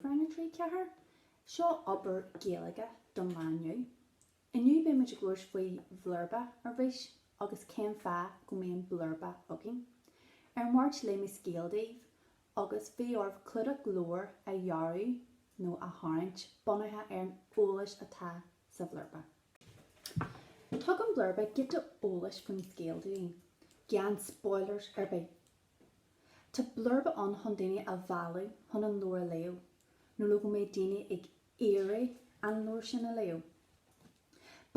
Rang 3, Ceathair, Seo obair Gaeilge don lá inniu. Inniu beidh muid ag labhairt faoi bhlurba arís agus cén fáth go mbíonn blurba againn. Ar an Mháirt léigh mé scéal daoibh agus bhí oraibh clúdach leabhair a dhearadh nó a tharraingt bunaithe ar an eolas atá sa bhlurba. Tugann blurba giota eolais faoin scéal dúinn, gan spoilers ar bith. Tá blurba ann chun daoine a mhealladh chun an leabhar a léamh nó le go mbeidh daoine ag iarraidh an leabhar sin a léamh.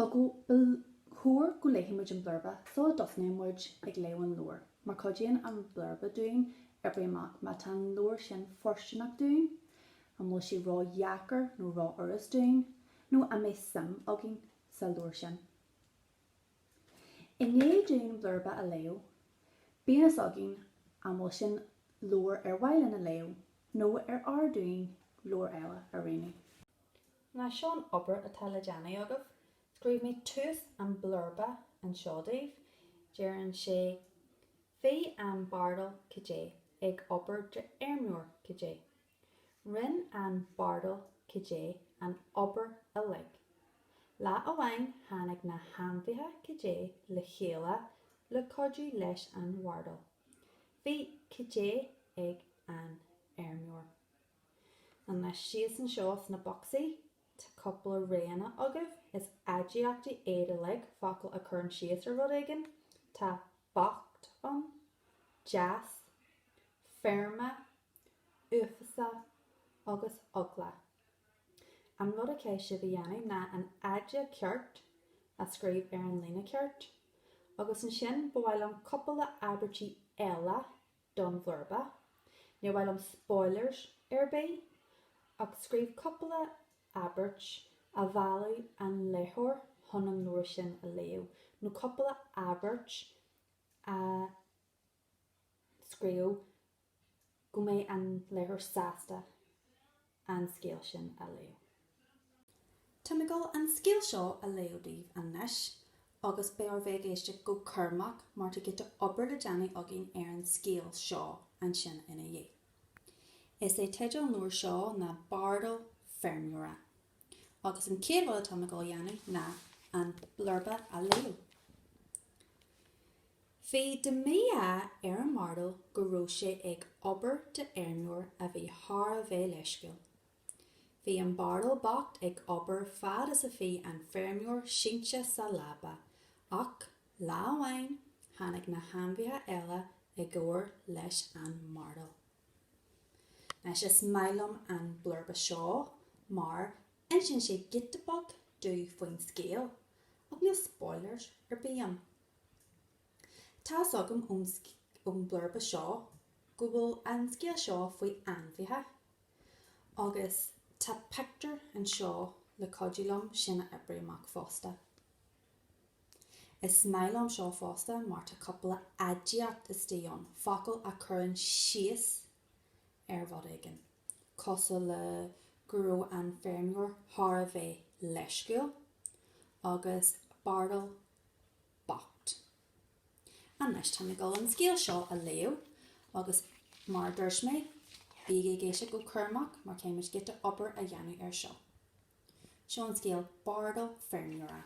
Ba chóir go léifidh muid an blurba sula dtosnaíonn muid ag léamh an leabhair mar cuidíonn an blurba dúinn oibriú amach má tá an leabhar sin fóirsteanach dúinn, an bhfuil sé ró-dheacair nó ró-fhurast dúinn nó an mbeidh suim againn sa leabhar sin. I ndiaidh dúinn blurba a léamh, bíonn fhios againn an bhfuil sin leabhar ar mhaith linn a léamh nó ar fhearr dúinn leabhar eile a roghnú. Now seo an obair atá le déanamh agaibh, scríobh mé tús an bhlurba anseo daoibh, deireann sé, Bhí an bardal, cad é, ag obair d'fheirmeoir, cad é. Rinne an bardal cad é an obair uilig. Lá amháin tháinig na hainmhithe cad é le chéile le cuidiú leis an bhardal. Bhí cad é ag an fheirmeoir. An lá síos anseo sna bocsaí, tá cúpla roghanna agaibh, is aidiachtaí iad uilig, focail a chuireann síos ar rud éigin, tá bocht ann, deas, feirme, uafásach agus eagla. An rud a chaithfidh sibh a dhéanamh ná an aidiacht ceart a scríobh ar an líne ceart. Agus ansin, ba mhaith liom cupla abairtí eile don bhlurba. Níor mhaith liom spoilers ar bith, ach scríobh cupla abairt a mheallfadh an léitheoir chun an leabhar sin a léamh, nó cupla abairt a scríobh go mbeidh an léitheoir sásta an scéal sin a léamh. Táim ag dul an scéal seo a léamh daoibh anois agus beidh oraibh bheith ag éisteacht go cúramach mar tá giota obair le déanamh againn ar an scéal seo ansin ina dhiaidh. Is é teideal an leabhair seo ná Bardal Feirmeora agus an chéad rud atáim ag dul a dhéanamh ná an blurba a léamh. Bhí de mhí-ádh ar an mbardal go raibh sé ag obair d'fheirmeoir a bhí thar a bheith leisciúil. Bhí an bardal bocht ag obair fad is a bhí an feirmeoir sínte sa leaba, ach lá amháin tháinig na hainmhithe eile i gcomhar leis an mbardal. Anois, is maith liom an blurba seo mar insíonn sé giota beag domh faoin scéal, ach níl spoilers ar bith ann. Tá's agam ón ón blurba seo go bhfuil an scéal seo faoi ainmhithe agus tá pictiúr anseo le cuidiú liom sin a oibriú amach fosta. Is maith liom seo fosta mar tá cúpla aidiacht istigh ann, focail a chuireann síos ar rud éigin, cosúil le go raibh an feirmeoir thar a bheith leisciúil agus bardal bocht. Anois táim ag dul an scéal seo a léamh agus mar a dúirt mé, bígí ag éisteacht go cúramach mar caithfidh muid giota obair a dhéanamh ar seo. Seo an scéal Bardal Feirmeora.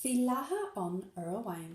Bhí lacha ann uair amháin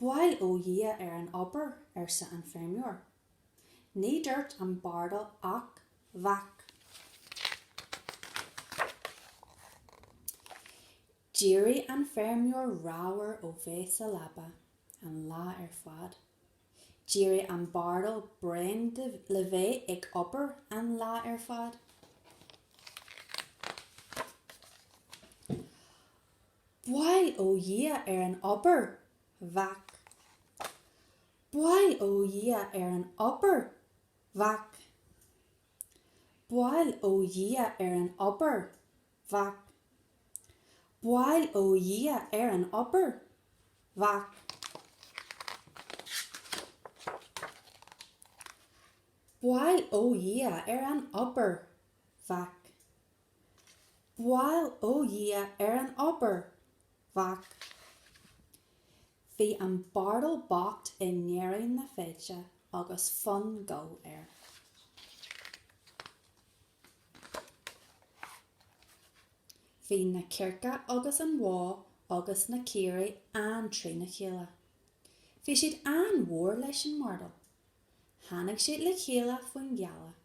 Bail ó Dhia ar an obair, arsa an feirmeoir. Ní dúirt an bardal ach vác. D'éirigh an feirmeoir ramhar ó bheith sa leaba an lá ar fad. D'éirigh an bardal bréan le bheith ag obair an lá ar fad. Bail ó Dhia ar an obair! Vác. Bail ó Dhia ar an obair! Vác. Bail ó Dhia ar an obair! Vác. Bail ó Dhia ar an obair! Vác. Bail ó Dhia ar an obair! Vác. Bail ó Dhia ar an obair! Vác. Bhí an bardal bocht i ndeireadh na feide agus fonn goil air. Bhí na cearca agus an bhó agus na caoirigh an-trína chéile. Bhí siad an-mhór leis an mbardal. Tháinig siad le chéile faoin ghealach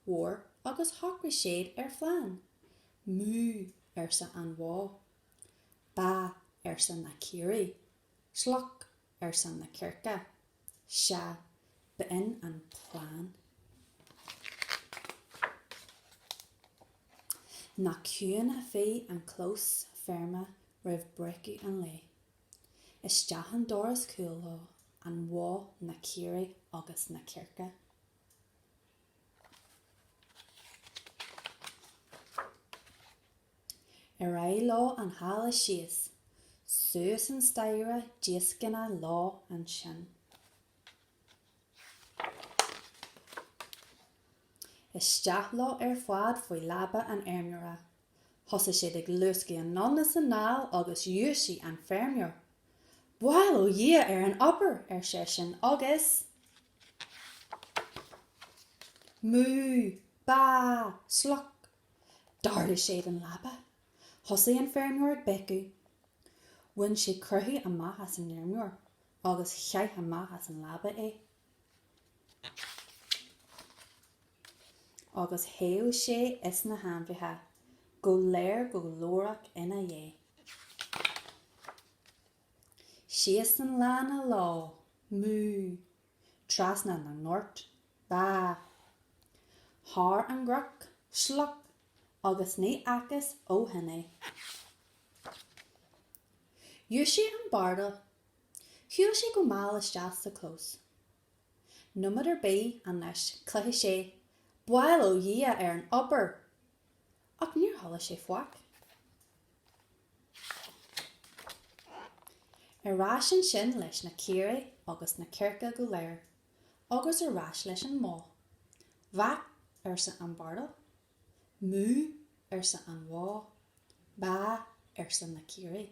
mhór agus shocraigh siad ar phlean. Mú, arsa an bhó. Bá, arsa na caoirigh. Sloc, arsa na circe. Sea, b'in an plean. Nach ciúin a bhí an clós feirme roimh breacadh an lae. Isteach an doras cúil leo, an bhó, na caoirigh agus na circe. Ar aghaidh leo an halla síos, suas an staighre díoscánach leo ansin. Isteach leo ar fad faoi leaba an fheirmeora. Thosaigh siad ag luascadh anonn is anall agus dhúisigh an feirmeoir. Bail ó Dhia ar an obair! ar seisean, agus mú! bá! sloc! d'ardaigh siad an leaba. Thosaigh an feirmeoir ag béiceadh. Bhain sé croitheadh amach as an fheirmeoir agus chaith amach as an leaba é. agus theith sé is na hainmhithe go léir go glórach ina dhiaidh. Síos an lána leo, mú! trasna na ngort, bá! thar an gcnoc, sloc! agus ní fhacthas ó shin é. Dhúisigh an bardal. Shiúil sé go mall isteach sa chlós. Nóiméad ar bith anois, chloisfeadh sé, bail ó Dhia ar an obair! Ach níor chuala sé faic. Ar ais ansin leis na caoirigh agus na circe go léir, agus ar ais leis an mbó. Vác, arsa an bardal. Mú, arsa an bhó. Bá, arsa na caoirigh.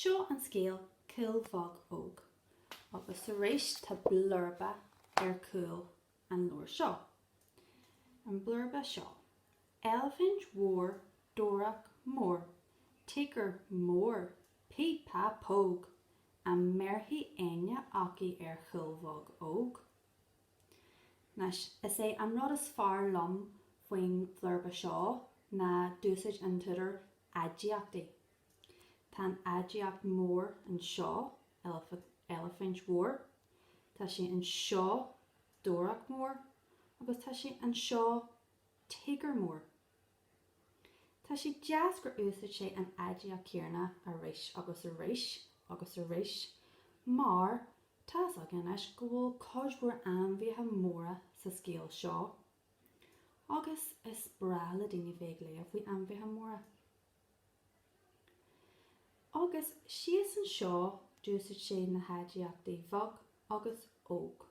Seo an scéal Cuil Bheag Óg agus arís tá blurba ar chúl an leabhair seo. An blurba seo, Eilifint mhór dobhareach mór Tíogar mór Píp Pá Póg An mbéarfaidh éinne acu ar Chuil Bheag Óg? Anois, is é an rud is fearr liom faoin bhlurba seo ná d'úsáid an t-údar aidiachtaí. Tá an aidiacht mór anseo, eilifint mhór. Tá sé anseo, dobhareach mór, agus tá sé anseo, tíogar mór. Tá sé deas gur úsáid sé an aidiacht chéanna arís agus arís agus arís mar tá's againn anois go bhfuil cuid mhór ainmhithe móra sa scéal seo agus is breá le daoine bheith ag léamh faoi ainmhithe móra. Agus síos anseo d'úsáid sé na haidiachtaí bheag agus óg.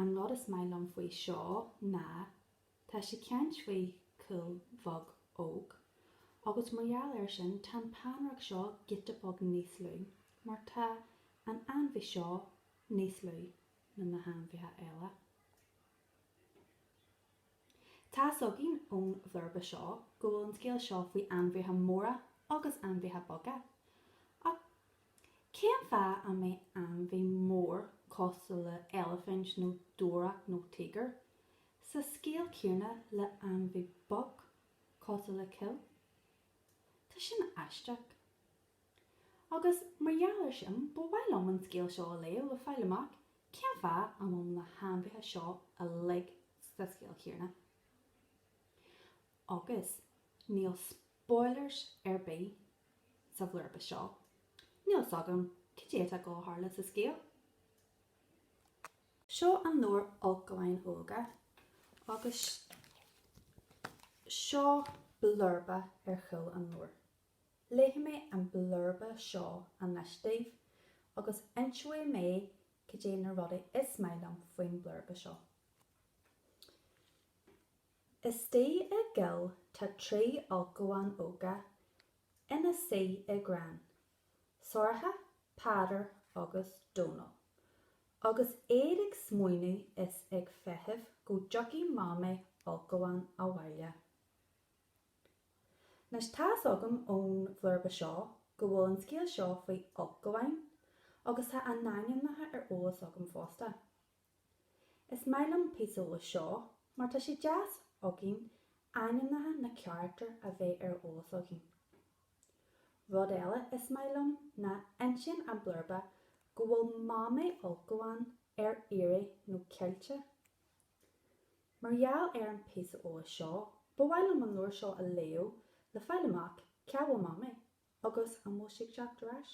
An rud is maith liom faoi seo ná tá sé ag caint faoi Chuil Bheag Óg agus mar gheall ar sin tá an peannaireacht seo giota beag níos lú mar tá an ainmhí seo níos lú ná na hainmhithe eile. Tá's againn ón bhlurba seo go bhfuil an scéal seo faoi ainmhithe móra agus ainmhithe beaga. Ach cén fáth a mbeadh ainmhí mór cosúil le eilifint nó dobhareach nó tíogar sa scéal céanna le ainmhí beag cosúil le cuil? Tá sin aisteach. Agus mar gheall air sin, ba mhaith liom an scéal seo a léamh le fáil amach cén fáth a bhfuil na hainmhithe seo uilig sa scéal chéanna. Agus níl spoilers ar bith sa bhlurba seo, níl fhios agam cad é atá ag dul a tharlú sa scéal. Seo an leabhar Ulchabháin Óga agus seo blurba ar chúl an leabhair. Léifidh mé an blurba seo anois daoibh agus inseoidh mé cad é na rudaí is maith liom faoin mblurba seo. Istigh i gcoill tá trí ulchabhán óga ina suí i gcrann, Sorcha, Peadar agus Dónall. Agus iad ag smaoineamh is ag feitheamh go dtiocfaidh Mamaí ulchabhán abhaile. Anois tá's agam ón bhlurba seo go bhfuil an scéal seo faoi ulchabháin, agus tá a n-ainmneacha ar eolas agam fosta. Is maith liom píosa eolais seo mar tá sé deas againn ainmneacha na carachtar a bheith ar eolas againn. Rud eile is maith liom ná insíonn an blurba go bhfuil Mamaí Ulchabhán ar iarraidh nó caillte. Mar gheall ar an píosa eolais seo, ba mhaith liom an leabhar seo a léamh le fáil amach cá bhfuil Mamaí agus an bhfuil sí ag teacht ar ais.